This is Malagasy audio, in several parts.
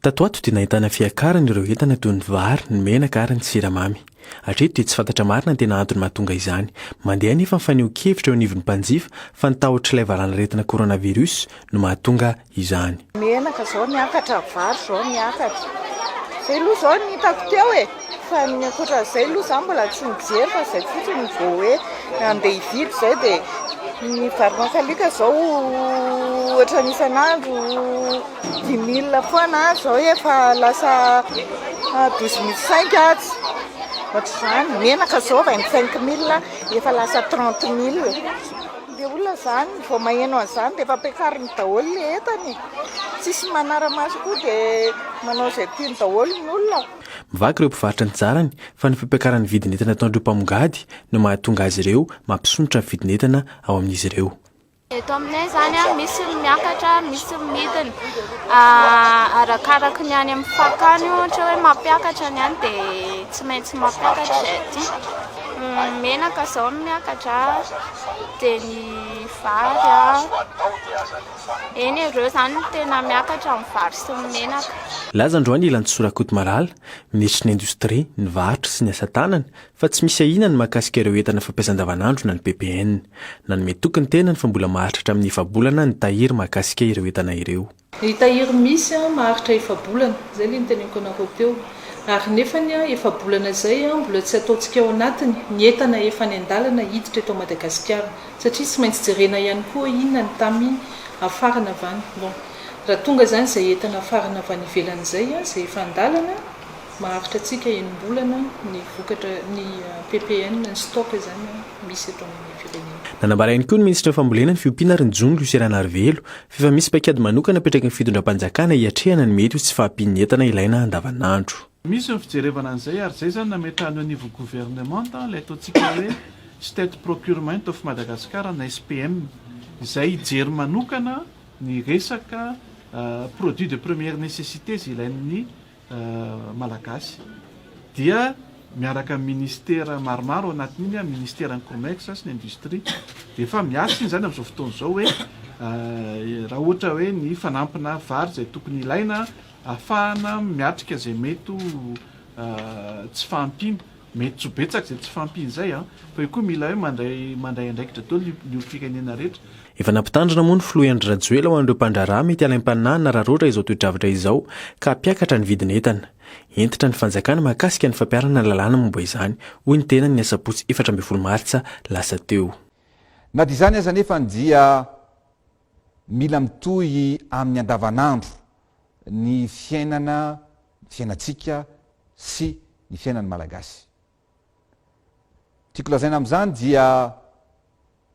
Tato ato dia nahitana fiakarana ireo entana toy ny vary, ny menaka ary ny siramamy. Hatreto dia tsy fantatra marina ny tena antony mahatonga izany. Mandeha anefa ny fanehoan-kevitra eo anivon'ny mpanjifa fa ny tahotr'ilay valanaretina coronavirus no mahatonga izany. Menaka izao niakatra, vary izao niakatra. Izay aloha izao no hitako teo e! Fa ny ankoatran'izay aloha za mbola tsy nijery fa zay fotsiny ny vao hoe andeha hividy zay dia ny vary makalioka zao ohatran'ny isan'andro dix mille foana ary zao efa lasa douze mille cinq aza ohatr'izany, ny menaka zao vingt cinq mille efa lasa trente mille, le olona zany vao maheno an'izany dia efa ampiakariny daholo le entany e, tsisy manara-maso koa dia manao izay tiany daholo ny olona. Mivaky ireo mpivarotra ny tsarany fa ny fampiakaran'ny vidin'entana ataon'ireo mpamongady no mahatonga azy ireo mampisondrotra ny vidin'entana ao amin'izy ireo. Eto aminay izany misy ny miakatra, misy ny midina arakaraka ny any amin'ny fakany ohatra hoe mampiakatra ny any dia tsy maintsy mampiakatra izay aty. Ny menaka izao no miakatra dia ny vary. Eny e, reo zany no tena miakatra amin'ny vary sy ny menaka. Nilaza androany i Lantsoa Rakotomalala, minisitry ny Indostria, ny Varotra sy ny Asa Tanana, fa tsy misy ahiana ny mahakasika ireo entana fampiasa andavanandro na ny PPN. Nanome toky ny tenany fa mbola maharitra hatramin'ny efa-bolana ny tahiry mahakasika ireo entana ireo. Ny tahiry misy maharitra efa-bolana, izay ilay noteneniko anareo teo, ary nefany efa-bolana izay mbola tsy ataontsika ao anatiny ny entana efa any an-dalana hiditra eto Madagasikara. Satria tsy maintsy jerena ihany koa hoe inona ny tamy afarana va ny bon. Raha tonga izany izay entana afarana avy any ivelany izay izay efa an-dalana, maharitra antsika enim-bolana ny vokatra, ny ppn, ny stock izany misy eto amin'ny firenena. Nanambara ihany koa ny minisitry ny fambolena, ny fiompiana ary ny jono Lucie Ranarivelo, f'efa misy paikady manokana apetraky ny fitondram-panjakana hiatrehana ny mety ho tsy fahampian'ny entana ilaina andavanandro. Misy ny fijerevana an'izay ary izay izany nametrahany au niveau gouvernement ilay ataontsika hoe State Procurement of Madagascar na SPM izay hijery manokana ny resaka produits de première nécessité izay ilain'ny Malagasy dia miaraka amin'ny ministera maromaro ao anatin'iny an, ministeran'ny Comex sy ny industrie dia efa miasa iny izany amin'izao fotoana izao hoe raha ohatra hoe ny fanampina vary izay tokony ilaina Afahana miatrika izay mety ho tsy fahampiana. Mety tsy ho betsaka izay tsy fahampiana izay an! Fa io koa mila hoe mandray mandray andraikitra daholo ny ny olom-pirenena rehetra. Efa nampitandrina moa ny filoha Andry Rajoelina ho an'ireo mpandraharaha mety halaim-pananahana raha roatra izao toe-javatra izao ka hampiakatra ny vidin'entana. Hentitra ny fanjakana mahakasika ny fampiharana lalàna momba izany, hoy ny tenany ny asabotsy efatra ambin'ny folo martsa lasa teo. Na dia izany aza anefa dia Mila mitohy amin'ny andavanandro ny fiainana, ny fiainantsika sy ny fiainan'ny Malagasy. Tiako lazaina amin'izany dia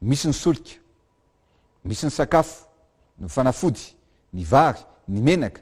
misy ny solika, misy ny sakafo, ny fanafody, ny vary, ny menaka,